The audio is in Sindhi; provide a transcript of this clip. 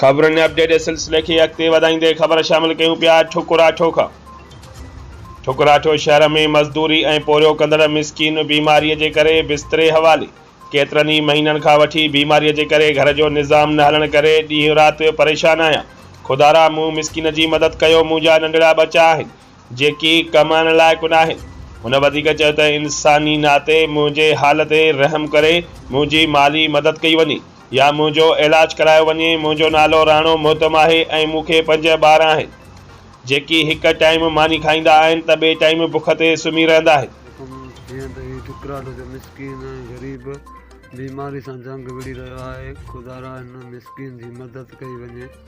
خبرن ۽ اپڊيٽ جي سلسلي کي اڳتي وڌائيندي خبر شامل ڪيون پيا ٺڪراٺو کان ٺڪراٺو شهر ۾ مزدوري ۽ پورهيو ڪندڙ مسڪين بيماري جي ڪري بستري حوالي ڪيترن ئي مهينن کان وٺي بيماري جي ڪري گهر جو نظام نه هلڻ ڪري ڏينهن رات پريشان آهيان خدارا مون مسڪين جي مدد ڪيو مونجا ننڍڙا ٻچا آهن جيڪي ڪم آڻڻ لائق ناهن. هن وڌيڪ چيو ته انساني ناتي منهنجي حال تي رحم ڪري منهنجي مالي مدد ڪئي وڃي يا منهنجو علاج ڪرايو وڃي، منهنجو نالو راڻو مهتم آهي ۽ مون کي پنج ٻار آهن جيڪي هڪ ٽائيم ماني کائيندا آهن ته ٻئي ٽائيم بک تي سمهي رهندا آهن. حڪم جيئن ته هي ٽڪراٽو جو مسڪين ۽ غريب بيماري سان جنگ وڙهي رهيو آهي، خدارا هن مسڪين جي مدد ڪئي وڃي.